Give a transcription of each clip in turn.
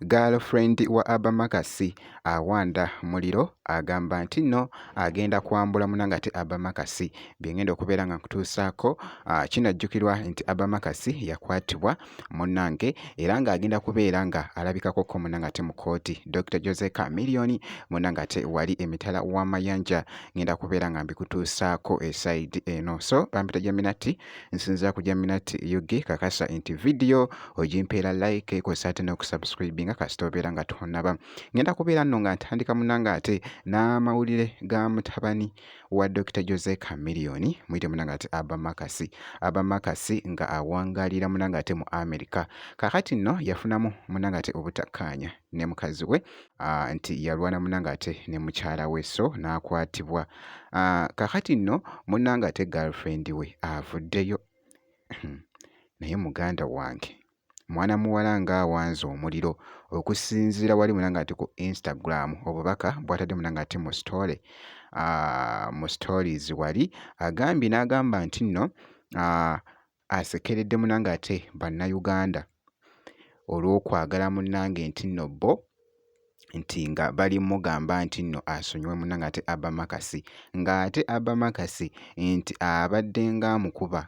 girlfriend wa abamakasi awanda muliro agamba nti nno agenda kwambula muna ngate abamakasi byengenda okubeera nga nkutuusaako ah, kinajjukirwa nti abamakasi yakwatibwa munnange era ng'agenda kubeera nga alabikako ko munnange ate mu kkooti Dr Jose Chameleone munnange ate wali emitala w'amayanja ngenda kubeera nga mbikutuusaako esayidi eno so bampita Jaminati nsinzira ku Jaminati UG kakasa nti vidiyo ogimpeera like kw'ossa ate n'okusubscribinga kasita obeera nga tonnaba ngenda kubeera nno nga ntandika munnange ate n'amawulire ga mutabani wa Dr. Jose Chameleone muyite munanga ati Abba Makasi Abba Makasi nga awangalira munanga ate mu America kakati nno yafunamu munanga ate obutakkaanya ne mukazi we uh, nti yalwana munanga ate ne mukyala we so n'akwatibwa uh, kakati nno munanga ate girlfriend we avuddeyo naye muganda wange mwana muwala ng'awanze omuliro okusinziira wali muna ng'ate ku instagram obubaka bwatadde muna ng'ate mu story ah, mu stories wali agambye n'agamba nti nno ah, asekeredde muna ng'ate bannayuganda olw'okwagala munnange nti nno bo nti nga bali mugamba nti nno asonyiwe muna ng'ate abamakasi ng'ate abamakasi nti abadde ng'amukuba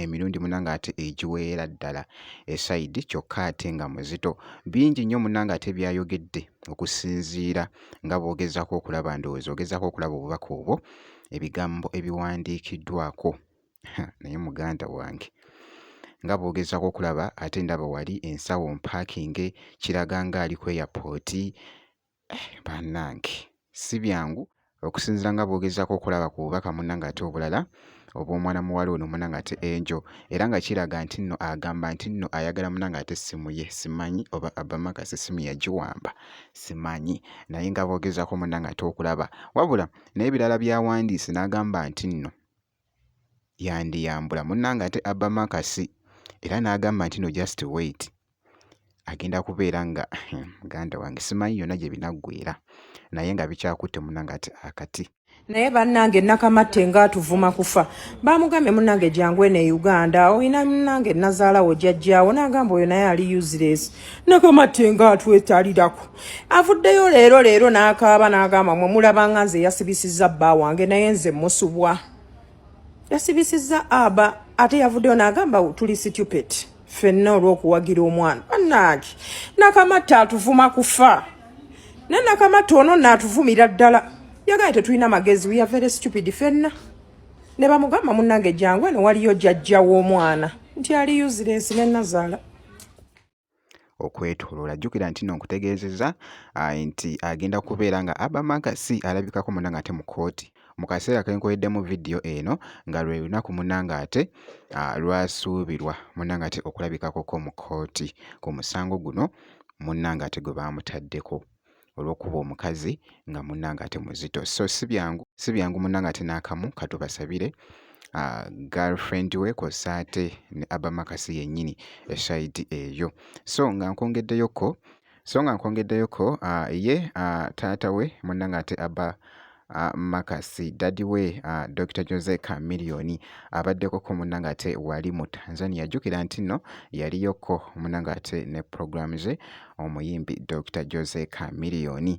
emirundi munange ate egiweera ddala esayidi kyokka ate nga muzito bingi nnyo munange ate byayogedde okusinziira nga bw'ogezaako okulaba ndowooza ogezaako okulaba obubaka obwo ebigambo ebiwandiikiddwako naye muganda wange nga bw'ogezaako okulaba ate ndaba wali ensawo mpaakinge kiraga ng'ali ku eyapooti Eh, bannange si byangu okusinzira nga bwogezaako okulaba ku bubaka munna ng'ate obulala obw'omwana muwala ono muna ng'ate enjo era nga kiraga nti nno agamba nti nno ayagala muna ng'ate essimu ye simanyi oba abamakasi essimu yagiwamba simanyi naye nga boogezaako muna ng'ate okulaba wabula naye ebirala byawandiise n'agamba nti nno yandiyambula munnange ate Abba Makasi era n'agamba nti no just wait agenda kubeera nga muganda wange simanyi yonna gye binaggwera naye nga bikyakutte munnange ate akati naye bannange nakamatte nga atuvuma kufa bamugambye munnange jangu eno e uganda olina munnange nazaalawo jajjaawo n'agamba oyo naye ali useless nakamatte nga atwetalirako avuddeyo leero leero n'akaaba n'agamba mwe mulabanga nze yasibisizza bba wange naye nze musubwa yasibisizza aba ate yavuddeyo n'agamba tuli situpet fenna olw'okuwagira omwana bannange nakamatta atuvuma kufa naye nakamatta ono naatuvumira ddala yagaye tetulina magezi we are very stupid fenna ne bamugamba munnange jangu eno waliyo jajja w'omwana nti ali useless ne nazaala okwetoloola jjukira nti no nkutegeezezza ah, nti agenda kubeera nga abamagasi alabikako muna nga ate mu kooti mu kaseera kenkoleddemu vidiyo eno nga lwe lunaku muna nga ate ah, lwasuubirwa muna nga ate okulabikakoko mu kooti ku musango guno muna nga ate gwe baamutaddeko olwokuba omukazi nga munange ate muzito so sibyangu sibyangu munange ate nakamu katubasabire uh, girlfriend we kosa ate ne abamakasi yenyini esaidi eyo so nga nkwongeddeyoko so nga nkwongeddeyoko uh, ye uh, taata we munange ate aba uh, Makasi dadi we uh, Dr Jose Chameleon abaddeko ko munna ng'ate wali mu Tanzania jjukira nti nno yaliyoko munna ng'ate ne programu ze omuyimbi Dr Jose Chameleon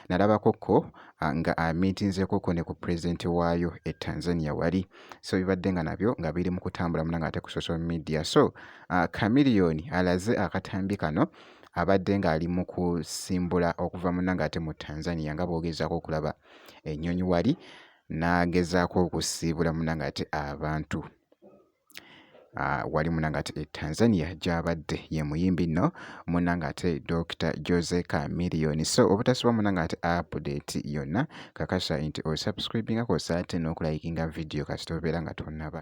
nalabako ko ah, nga amintinzeko ko ne ku president waayo e Tanzania wali so bibadde nga nabyo nga biri mu kutambula munanga ate ku social media so uh, Chameleon alaze akatambi kano abadde ng'ali mu kusimbula okuva munanga ate mu Tanzania nga bwogezako okulaba ennyonyi wali n'agezaako okusiibula munanga ate abantu Ah, wali munanga ati e Tanzania gyabadde ye muyimbi nno munanga ate Dr Jose Chameleone so obutasiba munanga ati update yonna kakasa nti osubscribingako saate n'okulayikinga vidiyo kasita obeera nga tonaba